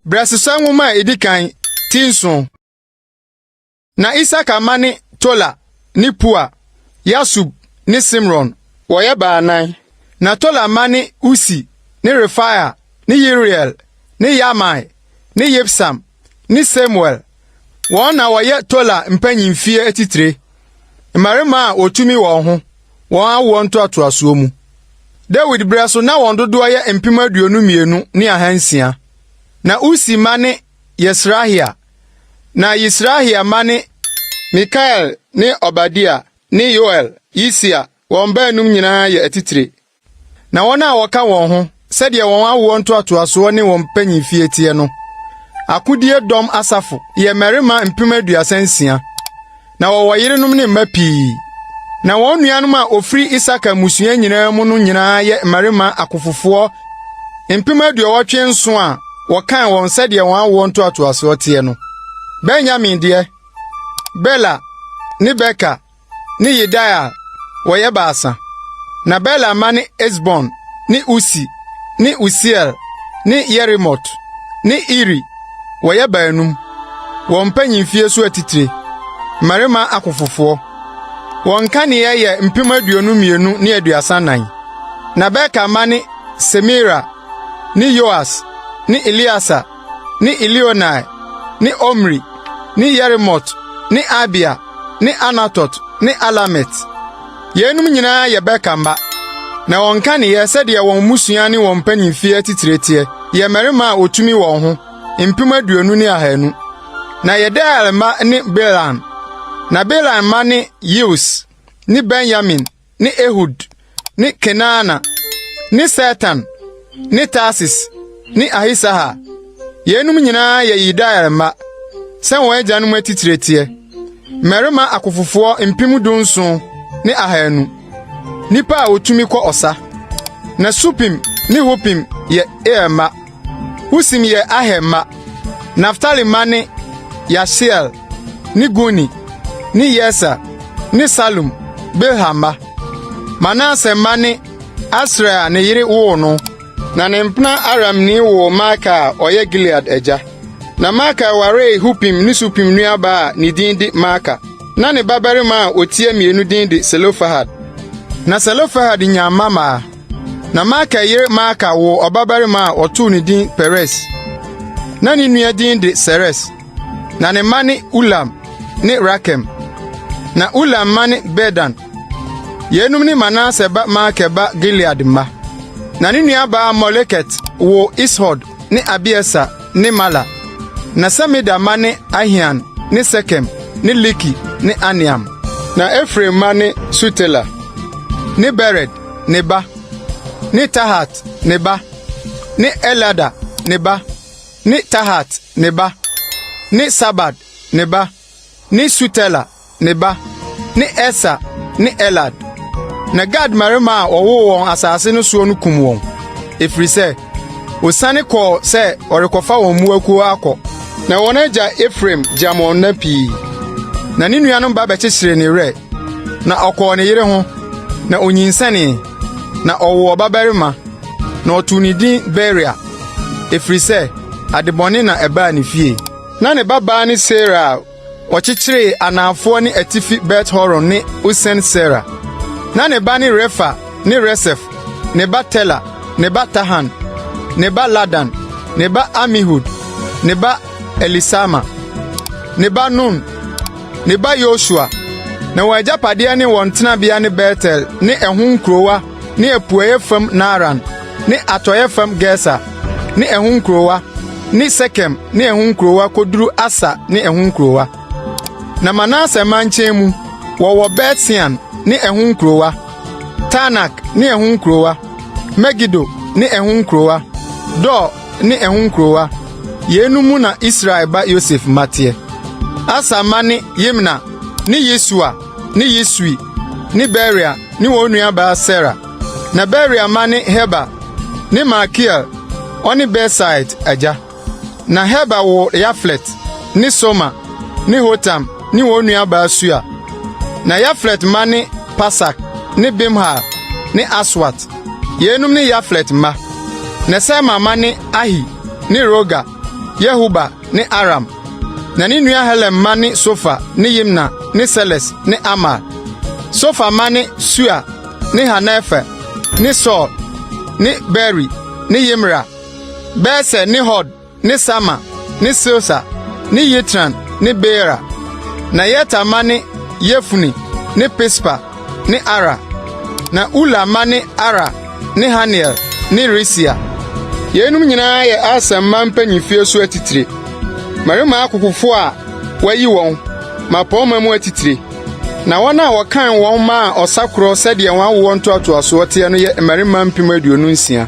Brɛsesɛ nwoma a ɛdi kan ti nson na Isaka mma ne Tola ne Pua, Yasub ne Simron. Wɔyɛ baanan. Na Tola mma ne Usi ne Refaia ne Yeriel ne Yahmai ne Yibsam ne Samuel. Wɔn na wɔyɛ Tola mpanyimfie atitire, mmarima a wɔtumi wɔn ho wɔn awoɔ ntoatoasoɔ mu. Dawid berɛ so na wɔn dodoɔ yɛ mpem aduonu mmienu ne ahansia. Na Usi mma ne Yesrahia, na Yisrahia mma ne Mikael ne Obadia ne Yoel, Yisia, wɔn baanum nyinaa yɛ atitire. Na wɔn a wɔka wɔn ho sɛdeɛ wɔn awoɔ ntoatoasoɔ ne wɔn mpanyinfie teɛ no, akodie dɔm asafo yɛ mmarima mpem aduasa nsia. Na wɔwɔ yerenom ne mma pii. Na wɔn nuanom a wɔfiri Isakar mmusua nyinaa mu no nyinaa yɛ mmarima akofofoɔ mpem aduɔwɔtwe nson a wɔkan wɔn sɛdeɛ wɔn awoɔ ntoatoasoɔ teɛ no. Benyamin deɛ, Bela ne Beker ne Yedaia wɔyɛ baasa, na Bela mma ne Esbon ne Usi ne Usiel ne Yerimot ne Iri, wɔyɛ baanum, wɔn mpanyimfie so atitire, mmarima akofofoɔ. Wɔn kaneɛ yɛ mpem aduonu mmienu ne aduasa nnan. Na Beker mma ne Semira ne Yoas ne Eleasa ne Elioenai ne Omri ne Yerimot ne Abia ne Anatot ne Alamet. Yeinom nyinaa yɛ Beka mma. Na wɔn nkaneyɛ sɛdeɛ wɔn mmusua ne wɔn mpanimfie atitire teɛ yɛ mmarima a wɔtumi wɔn ho mpem aduonu ne ahanu. Na Yediael mma ne Belan. Na Belan mma ne Yeus ne Benyamin ne Ehud ne Kenaana ne Setan ne Tarsis ne Ahisahar. Yeinom nyinaa yɛ Yedaia mma, sɛ wɔn agyanom atitire teɛ, mmarima akofofoɔ mpem dunson ne ahanu, nnipa a wɔtumi kɔ ɔsa. Na Supim ne Hupim yɛ Ir mma. Usim yɛ Aher mma. Naftali mma ne Yahsiel ne Guni ne Yeser ne Salum, Bilha mma. Manase mma ne Asriel a ne yere woo no. Na ne mpena Aramni woo Maaka a ɔyɛ Gilead agya. Na Maaka waree Hupim ne Supim nuabaa a ne din de Maaka. Na ne babarima a otia mmienu din de Selofehad. Na Selofehad nyaa mma maa Na Makir yere Maaka woo ɔbabarima a wɔtoo ne din Peres. Na ne nua din de Seres. Na ne mma ne Ulam ne Rakem. Na Ulam mma ne Bedan. Yeinom ne Manase ba Makir ba Gilead mma. Na ne nuabaa Moleket woo Ishod ne Abieser ne Mala. Na Semida mma ne Ahian ne Sekem ne Liki ne Aneam. Na Efraim mma ne Sutela ne Bered ne ba, ne Tahat ne ba, ne Eliada ne ba, ne Tahat ne ba, ne Sabad ne ba, ne Sutela ne ba, ne Esa ne Elad. Na Gad mmarima a wɔwoo wɔn asase no soɔ no kum wɔn, ɛfiri sɛ wɔsiane kɔɔ sɛ wɔrekɔfa wɔn mmoakuo akɔ. Na wɔn agya Efraim gyamm wɔn nna pii, na ne nuanom ba bɛkyekyeree ne werɛ. Na ɔkɔɔ ne yere ho, na onyinsɛnee, na ɔwoo ɔbabarima, na ɔtoo ne din Beria, ɛfiri sɛ adebɔne na ɛbaa ne fie. Na ne babaa ne Sera a ɔkyekyeree anaafoɔ ne atifi Bet-Horon ne Usen-Sera. Na ne ba ne Refa ne Resef, ne ba Tela, ne ba Tahan, ne ba Ladan, ne ba Amihud, ne ba Elisama, ne ba Nun, ne ba Yosua, na wɔn agyapadeɛ ne wɔn tenabea ne Betel ne ɛho nkurowa ne apueeɛ fam Naaran ne atɔeɛ fam Geser ne ɛho nkurowa ne Sekem ne ɛho nkurowa kɔduru Asa ne ɛho nkurowa. Na Manase mankyɛn mu, wɔwɔ Bet-Sean ne ɛho nkurowa, Taanak ne ɛho nkurowa, Megido ne ɛho nkurowa, Dor ne ɛho nkurowa. Yeinom mu na Israel ba Yosef mma teɛ. Aser mma ne Yimna ne Yesua ne Yesui ne Beria ne wɔn nuabaa Sera. Na Beria mma ne Heber ne Malkiel, ɔne Besaid agya. Na Heber woo Yaflet ne Soma ne Hotam ne wɔn nuabaa Sua. Na Yaflet mma ne Pasak ne Bimhal ne Aswat. Yeinom ne Yaflet mma. Na Sema mma ne Ahi ne Rohga, Yehuba ne Aram. Na ne nua Helem mma ne Sofa ne Yimna ne Seles ne Amal. Sofa mma ne Sua ne Harnefer ne Sur ne Beeri ne Yimra, Beser ne Hod ne Sama ne Silsa ne Yitran ne Beera. Na Yeter mma ne Yefune ne Pispa ne Ara. Na Ula mma ne Ara ne Haniel ne Risia. Yeinom nyinaa yɛ Aser mma mpanyin fie so atitire, mmarima akofofo a wɔayi wɔn mmapɔmma mu atitire. Na wɔn a wɔkan wɔn maa ɔsa koro sɛdeɛ wɔn awoɔ ntoatoasoɔ teɛ no yɛ mmarima mpem aduonu nsia.